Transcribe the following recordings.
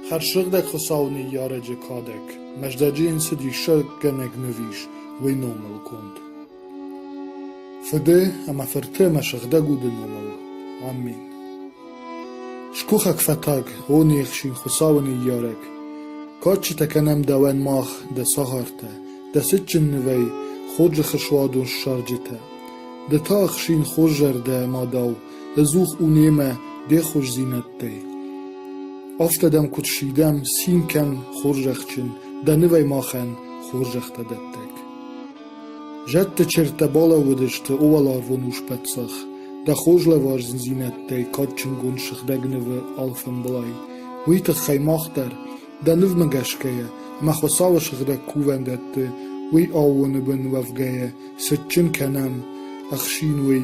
Хӕрзсыгъдӕг Хуыцауы ныййарӕджы кадӕг Мӕздӕджы йын цы диссаггӕнӕг ныв ис, уый номыл конд. Фыды ӕмӕ фырты ӕмӕ сыгъдӕг уды номыл. Амин. Скухӕг фӕтӕг, о не хсин Хуыцауы ныййарӕг, кадджытӕ кӕнӕм дӕуӕн мах, дӕ цагъартӕ, дӕ цытджын нывӕй хорзӕхы суадон ссарджытӕ. Ды та ӕхсин хорз зӕрдӕ ӕмӕ дӕу Ӕдзух у немӕ де хорздзинӕдтӕй. Афтӕ дӕм куыд сидӕм, цин кӕн, хорзӕхджын, дӕ нывӕй махӕн хорзӕхтӕ дӕттӕг. Зӕдты чертӕ балӕууыдысты уӕларвон ус-паддзах, дӕ хорз лӕвардзинӕдтӕй кадджынгонд сыгъдӕг нывы алфӕмблай. Уый тыххӕй мах дӕр, дӕ нывмӕ гӕсгӕйӕ, ӕмӕ Хуыцауы сыгъдӕг кувӕндӕтты уый аууоны бын уӕвгӕйӕ, цытджын кӕнӕм, ӕхсин уый,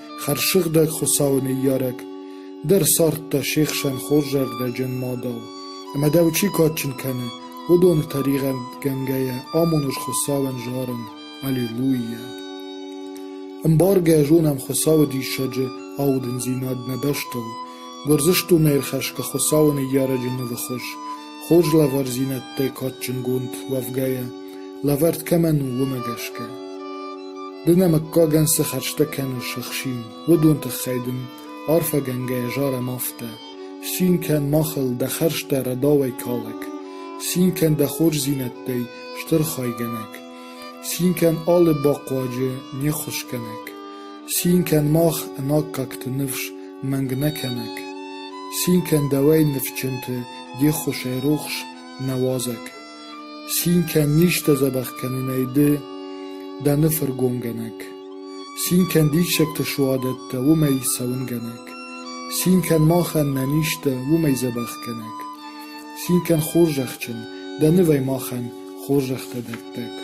Хӕрзсыгъдӕг Хуыцауы ныййарӕг дӕр ссардта се хсӕн хорзӕрдӕджын мадау, ӕмӕ дӕу чи кадджын кӕны, уыдоны тӕригъӕдгӕнгӕйӕ амон ӕз Хуыцауӕн зарын Аллилуйя! Ӕмбаргӕ зонӕм Хуыцауы диссаджы аудындзинад нӕ бӕстыл, Гуырдзыстонӕй ӕрхӕсгӕ Хуыцауы ныййарӕджы нывы хуыз, Хорз лӕвардзинӕдтӕй кадджынгонд уӕвгӕйӕ, лӕвӕрд кӕмӕн у, уымӕ гӕсгӕ. Ды нӕ мыггагӕн цы хӕрзтӕ кӕныс ӕхсин, уыдон тыххӕй дын, арфӕгӕнгӕйӕ зарӕм афтӕ: Цин кӕн махыл дӕ хӕрзтӕ рӕдауӕй калӕг, цин кӕн дӕ хорздзинӕдтӕй стыр хайгӕнӕг. Цин кӕн алы бахъуаджы, не ххуысгӕнӕг, цин кӕн мах ӕнаккӕгты ныфс мӕнг нӕ кӕнӕг, цин кӕн дӕуӕй ныфсджынты де ххуысӕй рухс нӕ уазӕг, цин кӕн низтӕ дзӕбӕх кӕнынӕй ды дӕ ныфыргонгӕнӕг, цин кӕн диссӕгты суадӕттӕ уымӕй цӕуынгӕнӕг, цин кӕн махӕн нӕ низтӕ уымӕй дзӕбӕхгӕнӕг, цин кӕн хорзӕхджын дӕ нывӕй махӕн Хорзӕхтӕ дӕттӕг.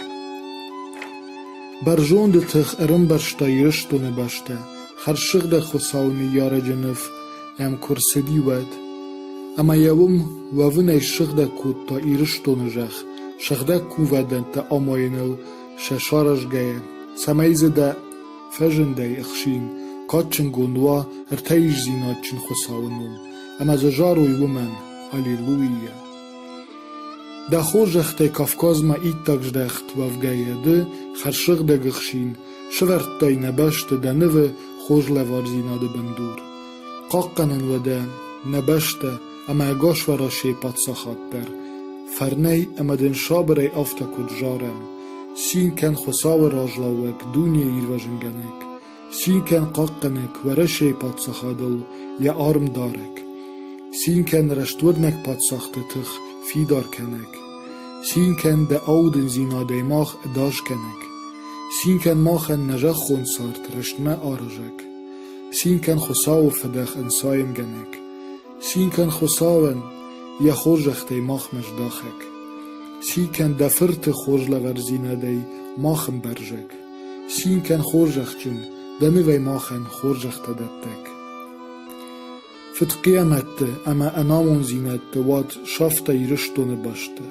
Бӕрзонды тых ӕрӕмбӕрзта Ирыстоны бӕстӕ, хӕрзсыгъдӕг Хуыцауы ныййарӕджы ныв ӕм куы рцыди, уӕд. Ӕмӕ йӕ уым уӕвынӕй сыгъдӕг кодта Ирыстоны зӕхх, сыгъдӕг кувӕндӕнтӕ амайыныл сӕ саразгӕйӕ, цӕмӕй дзы дӕ фӕзындӕй ӕхсин, кадджынгонд уа ӕртӕиздзинадджын Хуыцауы ном, ӕмӕ дзы зарой уымӕн, Аллилуйя! Дӕ хорзӕхтӕй Кавказмӕ иттӕг здӕхт уӕвгӕйӕ ды, хӕрзсыгъдӕг ӕхсин, сывӕрдтай нӕ бӕсты дӕ нывы хорз лӕвардзинады бындур. Хъахъхъӕнын уӕ дӕ нӕ бӕстӕ ӕмӕ ӕгас Уӕрӕсейы паддзахад дӕр фӕрнӕй ӕмӕ дын сабырӕй афтӕ куыд зарӕм: «Цин кӕн Хуыцауы разлӕууӕг дунейы ирвӕзынгӕнӕг, Цин кӕн хъахъхъӕнӕг Уӕрӕсейы паддзахадыл йӕ армдарӕг, Цин кӕн рӕстуырнӕг паддзахты тых фидар кӕнӕг, Цин кӕн дӕ аудындзинадӕй мах ӕдас кӕнӕг, Цин кӕн махӕн нӕ зӕххон цард рӕстмӕ аразӕг, Цин кӕн Хуыцауы фыдӕх ӕнцайынгӕнӕг, Цин кӕн Хуыцауӕн йӕ хорзӕхтӕй махмӕ здахӕг, Цин кӕн дӕ Фырты хорз лӕвардзинадӕй мах ӕмбӕрзӕг. Цин кӕн, хорзӕхджын, дӕ нывӕй махӕн хорзӕхтӕ дӕттӕг. Фыдхъиамӕтты ӕмӕ ӕнамонддзинӕдты уад сафта Ирыстоны бӕсты.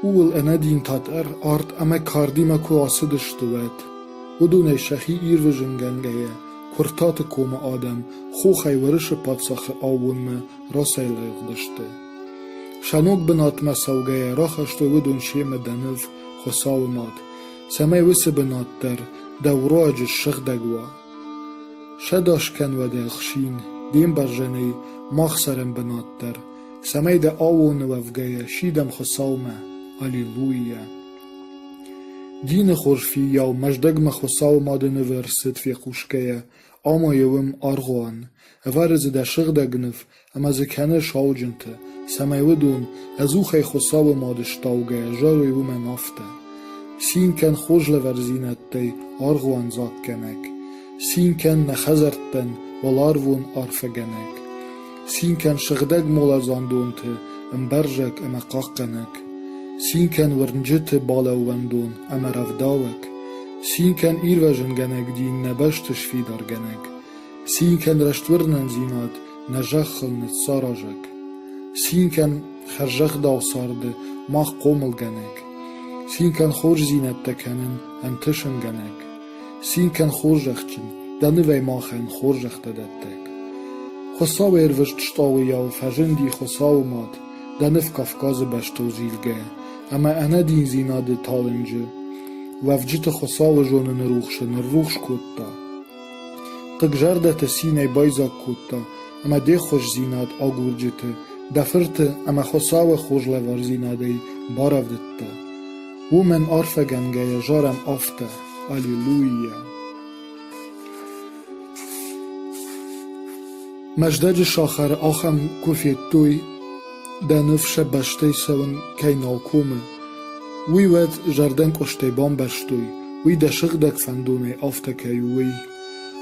Ууыл ӕнӕдинтат арт ӕмӕ кардимӕ куы ацыдысты, уӕд. Уыдонӕй сӕхи ирвызынгӕнгӕйӕ Куыртаты комы адӕм хохӕй Уӕрӕсы паддзахы аууонмӕ рацӕйлыгъдысты. Сӕ ног бынатмӕ цӕугӕйӕ рахастой уыдон семӕ дӕ ныв Хуыцауы мад, цӕмӕй уыцы бынат дӕр дӕ руаджы ссыгъдӕг уа. Сӕдас кӕнвӕд ӕхсин, де мбӕрзӕнӕй мах цӕрӕм бынат дӕр, цӕмӕй дӕ аоны уӕвгӕйӕ сидӕм Хуыцаумӕ. Аллилуйя! Дины хорз фиййау Мӕздӕгмӕ Хуыцауы мады нывы ӕрцыд фехъусгӕйӕ, ӕмӕ йӕ уым аргъуан, ӕвӕры дзы дӕ сыгъдӕг ныв Ӕмӕ дзы кӕны сауджынтӕ, цӕмӕй уыдон, ӕдзухӕй Хуыцауы мады стаугӕйӕ, зарой уымӕн афтӕ: «Цин кӕн хорз лӕвардзинӕдтӕй, аргъуан дзаггӕнӕг! Цин кӕн нӕ хӕдзӕрттӕн, уӕларвон арфӕгӕнӕг! Цин кӕн сыгъдӕг моладзандонты ӕмбӕрзӕг ӕмӕ хъахъхъӕнӕг! Цин кӕн уырнджыты балӕууӕндон ӕмӕ рӕвдауӕг! Цин кӕн ирвӕзынгӕнӕг дин нӕ бӕсты сфидаргӕнӕг! Цин кӕн рӕствӕрнындзинад, нӕ зӕххыл ныццаразӕг! Цин кӕн хӕрзӕгъдау царды мах хъомылгӕнӕг! Цин кӕн хорздзинӕдтӕ кӕнын ӕнтысынгӕнӕг! Цин кӕн хорзӕхджын, дӕ нывӕй махӕн хорзӕхтӕ дӕттӕг! Хуыцауы ӕрвыст стъалыйау фӕзынди Хуыцауы мад, дӕ ныв Кавказы бӕстыл зилгӕ ӕмӕ ӕнӕдиндзинады талынджы уӕвджыты Хуыцауы зоныны рухсы ныррухс кодта. Хъыг зӕрдӕты цинӕй байдзаг кодта ӕмӕ де ххуысдзинад агурджыты, дӕ фырты ӕмӕ Хуыцауы хорз лӕвардзинадӕй барӕвдыдта. Уымӕн арфӕгӕнгӕйӕ зарӕм афтӕ: «Аллилуйя!» Мӕздӕджы сахары ахӕм куы федтой, Дӕ ныв сӕ бӕстӕй цӕуын кӕй нал комы, уый уӕд зӕрдӕнкъуыстӕй бамбӕрстой, уый дӕ сыгъдӕг фӕндонӕй афтӕ кӕй у, уый,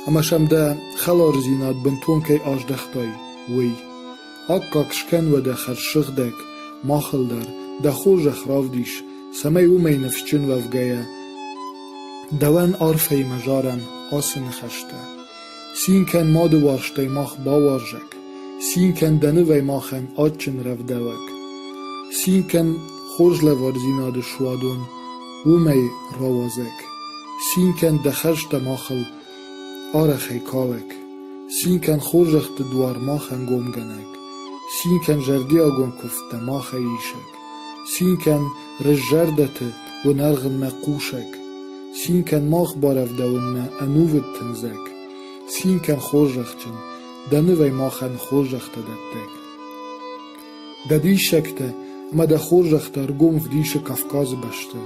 ӕмӕ сӕм дӕ хӕлардзинад бынтон кӕй аздӕхтай, уый. Аккаг скӕн уӕдӕ хӕрзсыгъдӕг, махыл дӕр, дӕ хорзӕх равдис, цӕмӕй уымӕй ныфсджын уӕвгӕйӕ, дӕуӕн арфӕйы мӕ зарӕн ацы ныхӕстӕ. Цин кӕн мады уӕхстӕй мах бауарзӕг, Цин кӕн дӕ нывӕй махӕн адджын рӕвдауӕг, Цин кӕн хорз лӕвардзинады суадон уымӕй рауадзӕг, Цин кӕн дӕ хӕрзтӕ махыл арӕхӕй калӕг, Цин кӕн хорзӕхты дуар махӕн гомгӕнӕг, Цин кӕн зӕрдиагон куывдтӕ махӕй исӕг. Цин кӕн рыззӕрдӕты уынӕргъынмӕ хъусӕг, Цин кӕн мах барӕвдауынмӕ ӕнувыд тындзӕг, Цин кӕн хорзӕхджын, дӕ нывӕй махӕн хорзӕхтӕ дӕттӕг. Дӕ диссӕгтӕ ӕмӕ дӕ хорзӕхтӕ ӕргом вдисы Кавказы бӕсты,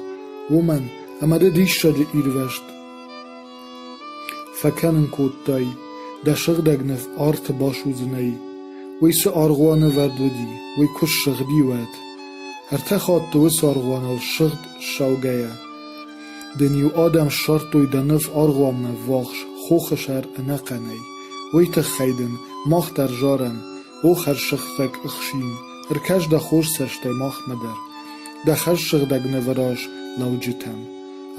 уымӕн ӕмӕ ды диссаджы ирвӕзт Фӕкӕнын кодтай, дӕ сыгъдӕг ныв арты басудзынӕи, уый цы аргъуанӕвӕрд уыди, уый куы ссыгъди, уӕд. Ӕртӕ хатты уыцы аргъуаныл сыгъд ссаугӕйӕ, дын-иу адӕм ссардтой дӕ ныв аргъуанмӕ ввахс хохы сӕр ӕнӕхъӕнӕй. Уый тыххӕй дын мах дӕр зарӕм, О, хӕрзсӕгъдӕг ӕхсин, ӕркӕс дӕ хорз цӕстӕй махмӕ дӕр, дӕ хӕрзсыгъдӕг нывыраз лӕуджытӕм,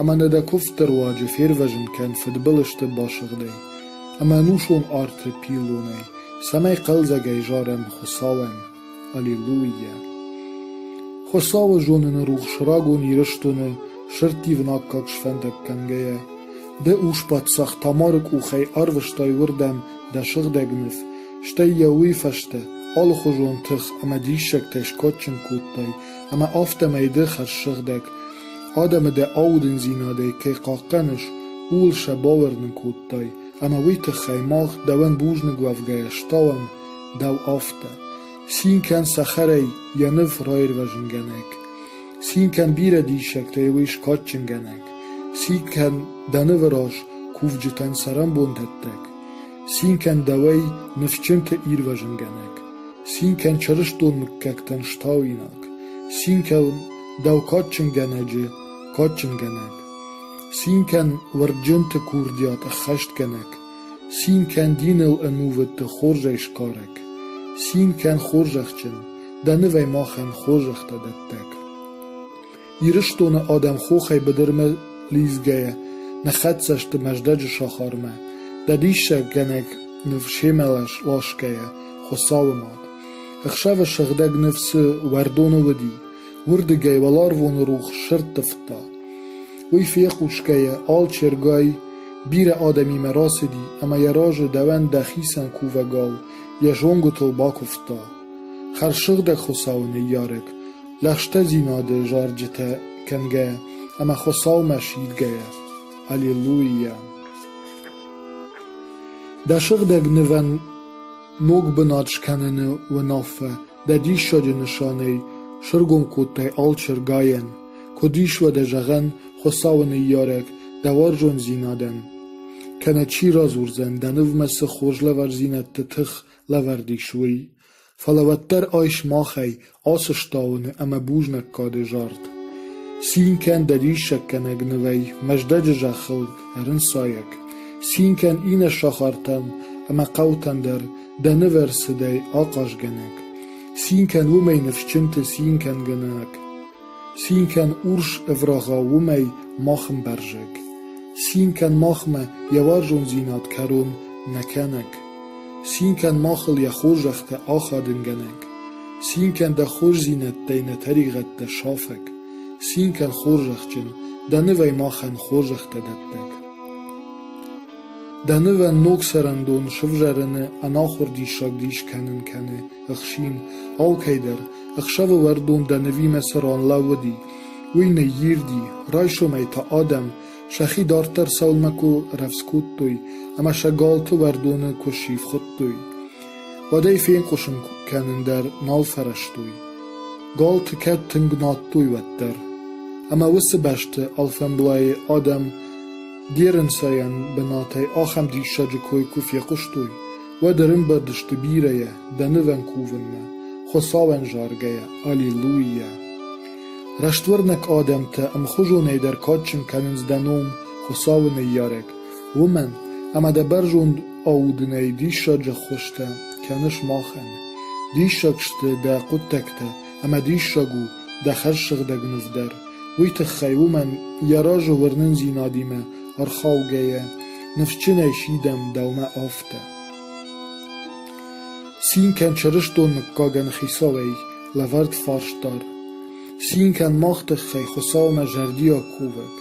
ӕмӕ нӕ дӕ куывдты руаджы фервӕзын кӕн фыдбылызты басыгъдӕй ӕмӕ ӕнусон арты пиллонӕй, цӕмӕй хъӕлдзӕгӕй зарӕм Хуыцауӕн. Аллилуйя! Хуыцауы зоныны рухс рагон Ирыстоны сӕрттивын аккаг сфӕндаг кӕнгӕйӕ, ды ус паддзах Тамары къухӕй арвыстай уырдӕм дӕ сыгъдӕг ныв стӕй йӕ уый фӕстӕ алыхуызон тых ӕмӕ диссӕгтӕй скадджын кодтай ӕмӕ афтӕмӕй ды хӕрзсыгъдӕг адӕмы дӕ аудындзинадӕй кӕй хъахъхъӕныс, ууыл сӕ бауырнын кодтай, ӕмӕ уый тыххӕй мах, дӕуӕн бузныг уӕвгӕйӕ, стауӕм дӕу афтӕ. Цин кӕн цӕхӕрӕй йӕ ныв раирвӕзынгӕнӕг, цин кӕн бирӕ диссӕгтӕй уый скадджынгӕнӕг, цин кӕн дӕ нывы раз кувджытӕн цӕрӕнбон дӕттӕг. Цин кӕн дӕуӕй, ныфсджынты ирвӕзынгӕнӕг, Цин кӕн чырыстон мыггӕгтӕн стауинаг, Цин кӕн дӕу кадджынгӕнӕджы кадджынгӕнӕг, Цин кӕн уырдджынты курдиат ӕххӕстгӕнӕг, Цин кӕн диныл ӕнувыдты хорзӕй сгарӕг, Цин кӕн хорзӕхджын, дӕ нывӕй махӕн хорзӕхтӕ дӕттӕг. Ирыстоны адӕм хохӕй быдырмӕ лидзгӕйӕ нӕ хӕццӕ сты Мӕздӕджы сахармӕ, дӕ диссаггӕнӕг ныв семӕ ласгӕйӕ Хуыцауы мад. Ӕхсӕвы сыгъдӕг ныв цы уӕрдоны уыди, уырдыгӕй уӕларвоны рухс сӕрттывта. Уый фехъусгӕйӕ алчергай бирӕ адӕмимӕ рацыди ӕмӕ йӕ разы дӕуӕн дӕхицӕн кувӕгау йӕ зонгуытыл бакуывта. Хӕрзсыгъдӕг Хуыцауы ныййарӕг, лӕгъстӕдзинады зарджытӕ кӕнгӕйӕ ӕмӕ Хуыцаумӕ сидгӕйӕ. Аллилуйя! Дӕ сыгъдӕг нывӕн ног бынат скӕныны уынаффӕ дӕ диссаджы нысанӕй сыргом кодтай алчыргайӕн. Куыд ис уӕдӕ зӕгъӕн Хуыцауы ныййарӕг дӕ уарзондзинадӕн? Кӕнӕ чи радзурдзӕн, дӕ нывмӕ цы хорз лӕвардзинӕдты тых лӕвӕрд ис, уый? Фӕлӕ уӕддӕр айс махӕй ацы стауыны ӕмӕ бузнаггады зард. Цин кӕн дӕ диссаггӕнӕг нывӕй, Мӕздӕджы зӕххыл ӕрынцайӕг. Цин кӕн иннӕ сахартӕм ӕмӕ хъӕутӕм дӕр Дӕ нывӕрцыдӕй ахъазгӕнӕг. Цин кӕн уымӕй ныфсджынты цин кӕнгӕнӕг. Цин кӕн урс ӕврагъа уымӕй мах ӕмбӕрзӕг, Цин кӕн махмӕ йӕ уарзондзинад кӕрон нӕ кӕнӕг, Цин кӕн махыл йӕ хорзӕхтӕ ахадынгӕнӕг, Цин кӕн дӕ хорздзинӕдтӕй нӕ тӕригъӕдтӕ сафӕг, Цин кӕн хорзӕхджын, дӕ нывӕй махӕн хорзӕхтӕ дӕттӕг. Дӕ нывӕн ног цӕрӕндон сывзарыны ӕнахуыр диссаг дис кӕнын кӕны ӕхсин, алкӕйдӕр, ӕхсӕвы уӕрдон дӕ нывимӕ цы ран лӕууыди, уый ныйирди, райсомӕй та адӕм сӕхи дарддӕр сӕумӕ куы рӕвдз кодтой ӕмӕ сӕ галты уӕрдоны куы сивхуыдтой, уӕд ӕй фенкъуысын кӕнын дӕр нал фӕрӕзтой. Галты кӕд тынг надтой уӕддӕр. Ӕмӕ уыцы бӕсты алфӕмблайы адӕм Геренсайӕн бынатӕй ахӕм диссаджы кой куы фехъуыстой, Уӕд ӕрымбырдысты бирӕйӕ дӕ нывӕн кувынмӕ, Хуыцауӕн заргӕйӕ, Аллилуйя! Рӕствӕрнӕг адӕмтӕ ӕмхуызонӕй дӕр кадджын кӕнынц дӕ ном, Хуыцауы ныййарӕг, уымӕн ӕмӕ дӕ бӕрзонд аудынӕй диссаджы ӕххуыстӕ кӕныс махӕн. Диссаг сты дӕ хъуыддӕгтӕ ӕмӕ диссаг у, дӕ хӕрзсыгъдӕг ныв дӕр, уый тыххӕй, уымӕн йӕ разы уырнындзинадимӕ ӕрхаугӕйӕ, ныфсджынӕй сидӕм дӕумӕ афтӕ. Цин кӕн чырыстон мыггагӕн хицауӕй, лӕвӕрд фарстар. Цин кӕн мах тыххӕй Хуыцаумӕ зӕрдиаг кувӕг.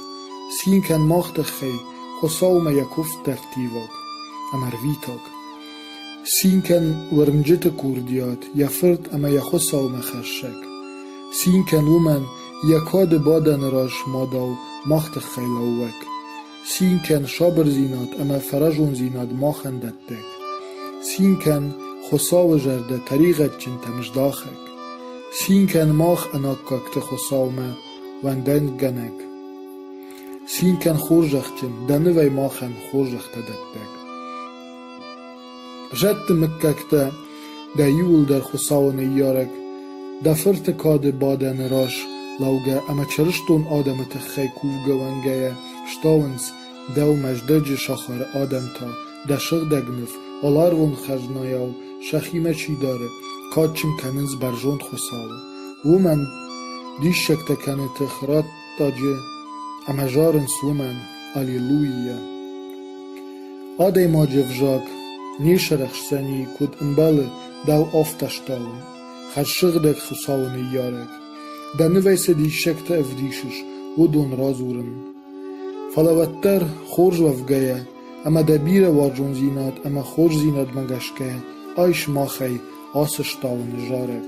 Цин кӕн мах тыххӕй Хуыцаумӕ йӕ куывд дӕрдтиваг ӕмӕ рвитаг. Цинкӕн уырнджыты курдиат, йӕ фырт ӕмӕ йӕ хуыцаумӕхӕссӕг. Цин кӕн уымӕн, йӕ кады бадӕны раз мадау мах тыххӕй лӕууӕг. Цин кӕн сабырдзинад ӕмӕ фӕразондзинад махӕн дӕттӕг. Цин кӕн Хуыцауы зӕрдӕ тӕригъӕдджынтӕм здахӕг. Цин кӕн мах ӕнаккӕгты Хуыцаумӕ уӕндангӕнӕг. Цин кӕн хорзӕхджын, дӕ нывӕй махӕн хорзӕхтӕ дӕттӕг. Зӕдты мыггӕгтӕ, дӕ иуылдӕр Хуыцауы ныййарӕг, дӕ фырты кады бадӕны раз лӕугӕ ӕмӕ чырыстон адӕмы тыххӕй кувгӕ уӕнгӕйӕ стауынц дӕу Мӕздӕджы сахары адӕм та, дӕ сыгъдӕг ныв, аларвон хӕзнайау сӕхимӕ чи дары, кадджын кӕнынц бӕрзонд Хуыцауы. Уымӕн диссӕгтӕ кӕны тых радт Даджи ӕмӕ зарынц уымӕн аллилуййӕ. Адӕймаджы ӕвзаг не сарӕхсдзӕни, куыд ӕмбӕлы дӕу афтӕстӕуын, хӕрзсыгъдӕг Хуыцауы ныййарӕг. Дӕ нывӕй цы диссӕгтӕ ӕвдисыс, уыдон радзурын. Фӕлӕ уӕддӕр, хорз уӕвгӕйӕ ӕмӕ дӕ бирӕ уарзондзинад ӕмӕ хорздзинадмӕ гӕсгӕ айс махӕй ацы стауыны зарӕг.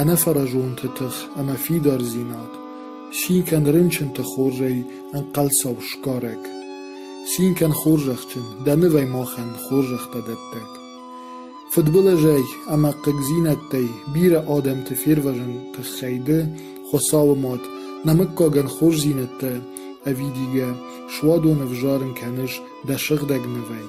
ӕнӕфӕразонты тых ӕмӕ фидардзинад, цин кӕн рынчынты хорзӕй ӕнхъӕлцау сгарӕг, цин кӕн хорзӕхджын, дӕ нывӕй махӕн хорзӕхтӕ дӕттӕг. Фыдбылызӕй ӕмӕ хъыгдзинӕдтӕй бирӕ адӕмты фервӕзыны тыххӕй ды, Хуыцауы Мад, нӕ мыггагӕн хорздзинӕдтӕ ӕвидийгӕ суадоны ӕвзарын кӕныс дӕ сыгъдӕг нывӕй.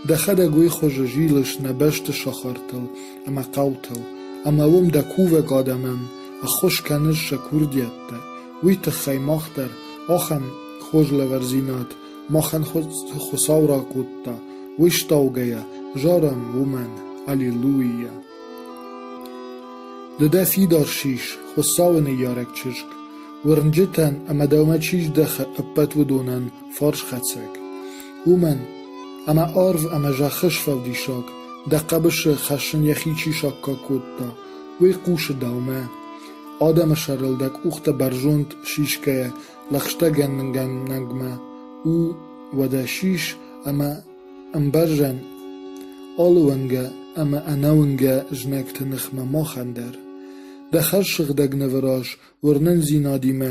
Дӕхӕдӕг уый хуызы зилыс нӕ бӕсты сахартыл ӕмӕ хъӕутыл, ӕмӕ уым дӕ кувӕг адӕмӕн ӕххуыс кӕныс сӕ курдиӕттӕ, уый тыххӕй мах дӕр ахӕм хорз лӕвардзинад махӕн Хуыцау ракодта, уый стаугӕйӕ зарӕм уымӕн Аллилуйя! Ды дӕ фидар сис, Хуыцауы ныййарӕг чызг, уырнджытӕн ӕмӕ дӕумӕ чи здӕхы ӕппӕт уыдонӕн, Фарсхӕцӕг. Уымӕн, ӕмӕ арв ӕмӕ зӕххы сфӕлдисӕг, дӕ хъӕбысы хӕссын йӕхи чи саккаг кодта, уый хъусы дӕумӕ. Адӕмы сӕрыл дӕ къухтӕ бӕрзонд сисгӕйӕ лӕгъстӕгӕнгӕнӕгмӕ у уӕдӕ сис ӕмӕ ӕмбӕрзӕн алы уынгӕ ӕмӕ ӕнӕуынгӕ знӕгты ныхмӕ махӕн дӕр. Дӕ хӕрз сыгъдӕг нывы раз уырнындзинадимӕ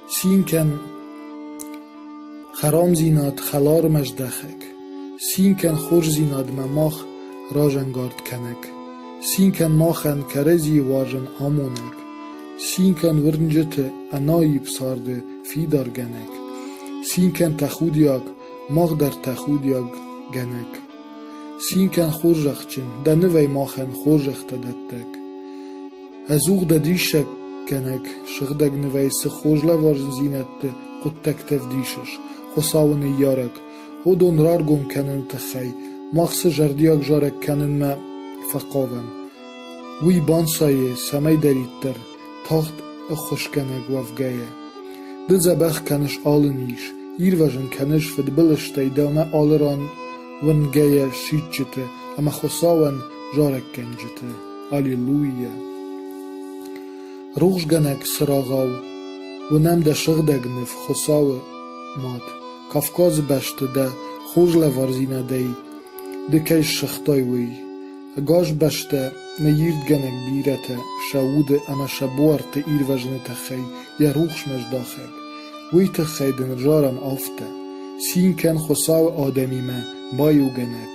Цин кӕн, хӕрамдзинад хӕлармӕ здӕхӕг, Цин кӕн хорздзинадмӕ мах разӕнгард кӕнӕг, Цин кӕн махӕн кӕрӕдзийы уарзон амонӕг, Цин кӕн уырнджыты ӕнаипп царды фидаргӕнӕг, Цин кӕн тӕхудиаг, мах дӕр тӕхудиаггӕнӕг. Цин кӕн хорзӕхджын, дӕ нывӕй махӕн хорзӕхтӕ дӕттӕг. Ӕдзух дӕ диссаггӕнӕг сыгъдӕг нывӕй цы хорз лӕварындзинӕдты хъуыддӕгтӕ вдисыс, Хуыцауы ныййарӕг, уыдон раргом кӕныны тыххӕй мах цы зӕрдиаг зарӕг кӕнынмӕ фӕхъавӕм, уый банцайы цӕмӕйдӕриддӕр тагъд ӕххуысгӕнӕг уӕвгӕйӕ. Ды дзӕбӕх кӕныс алы низ, ирвӕзын кӕныс фыдбылызтӕй дӕумӕ алы ран уынгӕйӕ сидджыты ӕмӕ Хуыцауӕн зарӕггӕнджыты. Аллилуйя! Рухсгӕнӕг цырагъау, уынӕм дӕ сыгъдӕг ныв Хуыцауы мад. Кавказы бӕсты дӕ хорз лӕвардзинадӕй ды кӕй ссыгътай, уый. Ӕгас бӕстӕ ныйирдгӕнӕг бирӕтӕ сӕ уды ӕмӕ сӕ буарты ирвӕзыны тыххӕй йӕ рухсмӕ здахӕг. Уый тыххӕй дын разарам афтӕ: Цин кӕн Хуыцауы адӕмимӕ, баиугӕнӕг!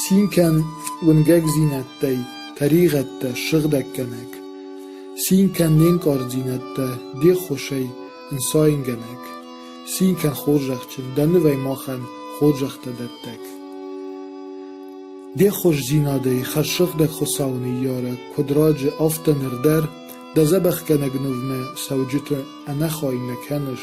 Цин кӕн уынгӕгдзинӕдтӕй, тӕригъӕдтӕ, сыгъдӕггӕнӕг. Цин кӕн не нкъарддзинӕдтӕ, де ххуысӕй ӕнцойнгӕнӕг. Цин кӕн хорзӕхджын, дӕ нывӕй махӕн хорзӕхтӕ дӕттӕг. Де хорздзинадӕй хӕрзсыгъдӕг Хуыцауы ныййарӕг, куыд раджы, афтӕ ныр дӕр, дӕ дзӕбӕхгӕнӕг нывмӕ цӕуджыты ӕнӕхай нӕ кӕныс,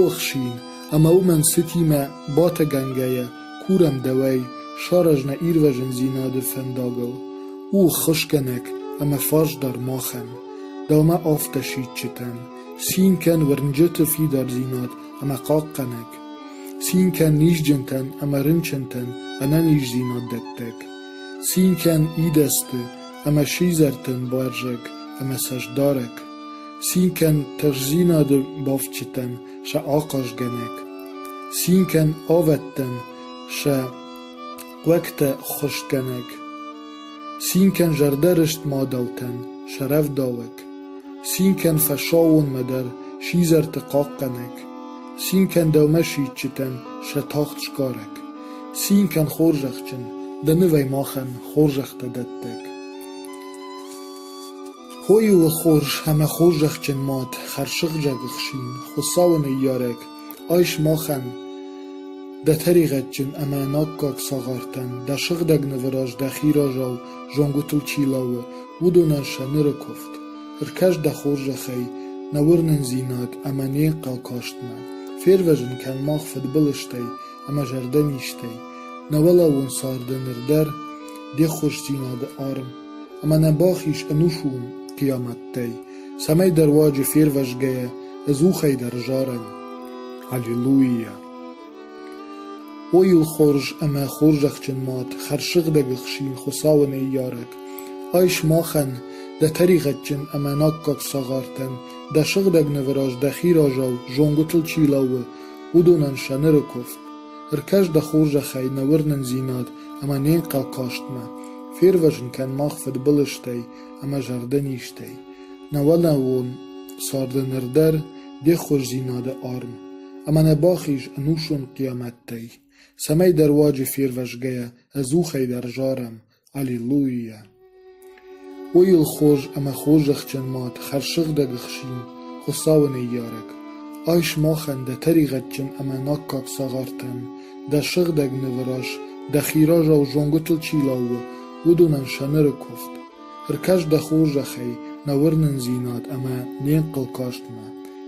охсин, ӕма уомӕн цитимӕ батӕгӕнгӕйӕ курӕн дӕуӕй саразна ирвӕзундзийнади фӕндагыл, уххусгӕнӕг ӕма фарсдар махӕн, дӕумӕ афтӕситджытӕн, цин кӕн уырнджыты фидардзинад ӕма хъахъхъӕнӕг, цин кӕн низджынтӕн ӕма рынчынтӕн ӕнӕниздзинад дӕттӕг, цин кӕн идӕдзты ӕма сидзӕртӕн бӕрзӕг ӕма цӕстдарӕг. Цин кӕн тыхстдзинады бафтджытӕн сӕ ахъазгӕнӕг, цин кӕн ӕвӕдтӕн сӕ хъуӕгтӕ ӕххуысгӕнӕг, цин кӕн зӕрдӕрыст мадӕлтӕн сӕ рӕвдауӕг, цин кӕн фӕсаууонмӕ дӕр сидзӕрты хъахъхъӕнӕг, цин кӕн дӕумӕ сидджытӕн сӕ тагъд сгарӕг, цин кӕн хорзӕхджын, дӕ нывӕй махӕн хорзӕхтӕ дӕттӕг. Хойыл хорз ӕмӕ хорзӕхджын мад, хӕрсыгъдӕг ӕхсин, Хуыцауы ныййарӕг, айс махӕн, дӕ тӕригъӕдджын ӕмӕ ӕнаккаг цагъартӕн, дӕ сыгъдӕг нывы раз дӕхи разау зонгуытыл чи лӕууы, уыдонӕн сӕ ныры куывд. Ӕркӕс дӕ хорзӕхӕй нӕ уырнындзинад ӕмӕ не хъӕлкастмӕ. Фервӕзын кӕн мах фыдбылызтӕй ӕмӕ зӕрдӕнизтӕй, нӕ уӕлӕуон царды ныр дӕр де ххуысдзинады арм ӕмӕ нӕ бӕх ис ӕнусон хъиамӕттӕй, цӕмӕйдӕр руаджы фервӕзгӕйӕ ӕдзухӕй дӕр зарӕн «Аллилуйя!». О йыл хорз ӕмӕ хорзӕхджын мад, хӕрзсыгъдӕг ӕхсин Хуыцауы ныййарӕг, ай сымахӕн, дӕ тӕригъӕдджын ӕмӕ наккаг цагъартӕн, дӕ сыгъдӕг нывы раз дӕхи разау зонгуытыл чи лӕууы, уыдонӕн сӕ ныры куывд. Ӕркӕс дӕ хорзӕхӕй нӕ уырнындзинад ӕмӕ не нхъӕлхъӕстмӕ, фервӕзын кӕн мах фыдбылызтӕй ӕмӕ зӕрдӕнизтӕй, нӕуӕлӕуон царды ныр дӕр де хорздзинады арм, ӕмӕ нӕ бахиз ӕнусон хъиамӕттӕй, цӕмӕйдӕр руаджы фервӕзгӕйӕ ӕдзухӕй дӕр зарӕм Аллилуйя! О йыл хорз ӕмӕ хорзӕхджын мад, хӕрзсыгъдӕг ӕхсин, Хуыцауы ныййарӕг! Айс махӕн дӕ тӕригъӕдджын ӕмӕ наккаг цагъартӕн, дӕ сыгъдӕг нывы раз, дӕхи разау зонгуытыл чи лӕууы, уыдонӕн сӕ ныры куывд. Ӕркӕс дӕ хорзӕхӕй нӕ уырнындзинад ӕмӕ не нхъӕл кастмӕ.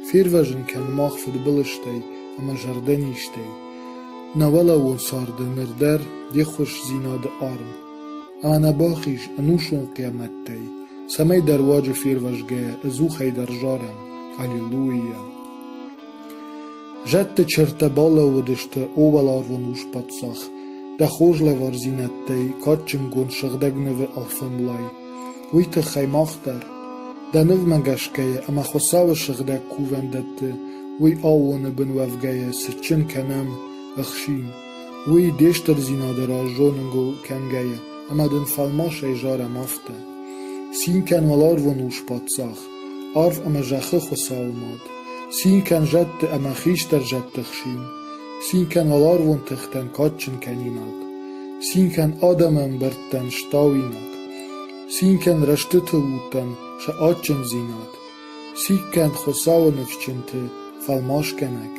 Фервӕзын кӕн мах фыдбылызтӕй ӕмӕ зӕрдӕнизтӕй, Нӕуӕлӕуон царды ныр дӕр де ххуысдзинады арм ӕнӕбахиз, ӕнусон хъиамӕттӕй, цӕмӕйдӕр руаджы фервӕзгӕйӕ, ӕдзухӕй дӕр зарӕм «Аллилуйя». Зӕдты чыртӕ балӕууыдысты, о уӕларвон Ус-паддзах, дӕ хорз лӕвардзинӕдтӕй кадджынгонд Сыгъдӕг Нывы ӕрфӕнлай. уый тыххӕй мах дӕр, дӕ нывмӕ гӕсгӕйӕ ӕмӕ Хуыцауы сыгъдӕг кувӕндӕтты уый аууоны бын уӕвгӕйӕ цытджын кӕнӕм ӕхсин, уый де стырдзинады раз зоныгыл кӕнгӕйӕ ӕмӕ дын фӕлмасӕй зарӕм афтӕ: Цин кӕн уӕларвон Ус-паддзах, арв ӕмӕ зӕххы Хуыцауы мад! Цин кӕн зӕдты ӕмӕ хистӕр зӕдты хсин! Цин кӕн уӕларвон тыхтӕн кадджын кӕнинаг! Цин кӕн адӕмы ӕмбӕрттӕн стауинаг! Цинкӕн рӕстытыл уыдтӕн сӕ адджындзинад, циккӕнд Хуыцауы ныфсджынты фӕлмасгӕнӕг,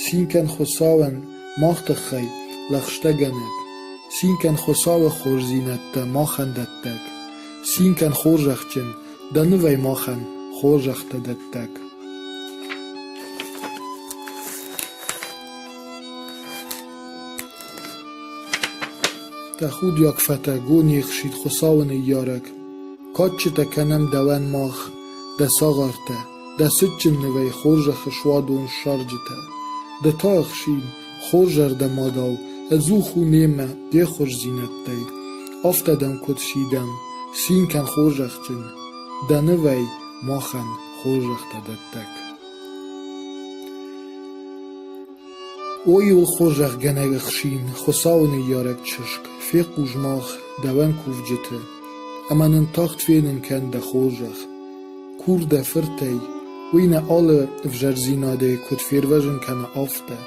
цинкӕн Хуыцауӕн мах тыххӕй лӕгъстӕгӕнӕг, цинкӕн Хуыцауы хорздзинӕдтӕ махӕн дӕттӕг, цинкӕн хорзӕхджын дӕ нывӕй махӕн хорзӕхтӕ дӕттӕг. Тӕхудиаг фӕтӕго не хсид Хуыцауы ныййарӕг. Кадджытӕ кӕнӕм дӕуӕн мах, дӕ цагъартӕ, дӕ цытджын нывӕй хорзӕхы суадон ссарджытӕ. Ды та ӕхсин, хорзӕрдӕмадау, ӕдзух у немӕ де хорздзинӕдтӕй. Афтӕ дӕм куыд сидӕм, цин кӕн хорзӕхджын, дӕ нывӕй махӕн хорзӕхтӕ дӕттӕг. Ой, уылхорзӕхгӕнӕг ӕхсин, Хуыцауы ныййарӕг чызг, фехъус мах, дӕуӕн кувджыты, ӕмӕ нын тагъд фенын кӕн дӕ хорзӕх. Кур дӕ фыртӕй, уый нӕ алы ӕвзӕрдзинадӕй куыд фервӕзын кӕна, афтӕ.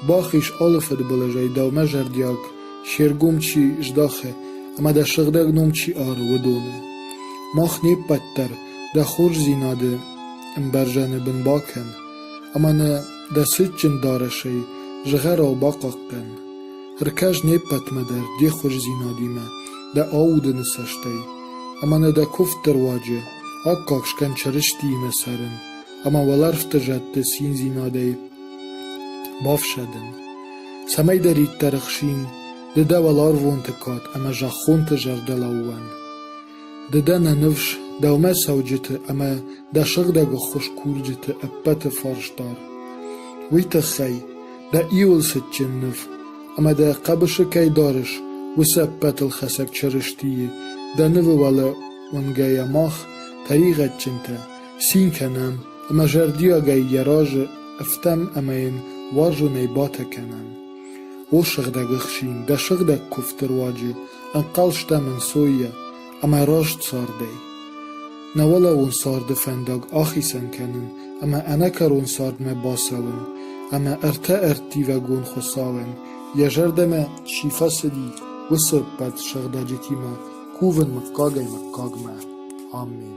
Бах ис алы фыдбылызӕй дӕумӕ зӕрдиаг се ргом чи здахы ӕмӕ дӕ сыгъдӕг ном чи ары, уыдоны. Мах не ппӕт дӕр дӕ хорздзинады ӕмбӕрзӕны бын бакӕн ӕмӕ нӕ Дӕ цытджын дарӕсӕй, зыгъӕрау бахъахъхъӕн. Ӕркӕс не ппӕтмӕ дӕр де хуыздзинадимӕ дӕ аудыны цӕстӕй, ӕмӕ нӕ дӕ куывдты руаджы аккаг скӕн Чырыстиимӕ цӕрын ӕмӕ уӕлӕрвты зӕдты циндзинадӕй бафсӕдын, цӕмӕйдӕриддӕр ӕхсин ды дӕ уӕларвонты кад ӕмӕ зӕххонты зӕрдӕлӕууӕн. Ды дӕ нӕ ныфс, дӕумӕ цӕуджыты ӕмӕ дӕ сыгъдӕг ӕххуыс курджыты ӕппӕты фарсдар. Уый тыххӕй дӕ иуыл цытджын ныв ӕмӕ дӕ хъӕбысы кӕй дарыс, уыцы ӕппӕтыл хӕцӕг Чырыстийы дӕ нывы уӕлӕ уынгӕйӕ мах, тӕригъӕдджынтӕ, цин кӕнӕм ӕмӕ зӕрдиагӕй йӕ разы ӕфтӕм ӕмӕ йын уарзонӕй батӕ кӕнӕм. О сыгъдӕг ӕхсин, дӕ сыгъдӕг куывдты руаджы Ӕнхъӕлстам ӕнцойӕ ӕмӕ раст цардӕй. Нӕ уӕлӕуон царды фӕндаг ахицӕн кӕнын ӕмӕ ӕнӕкӕрон цардмӕ бацӕуын ӕмӕ ӕртӕ ӕрттивӕгон Хуыцауӕн йӕ зӕрдӕмӕ чи фӕцыди, уыцы ӕппӕт сыгъдӕджытимӕ кувын мыггагӕй мыггагмӕ. Амен.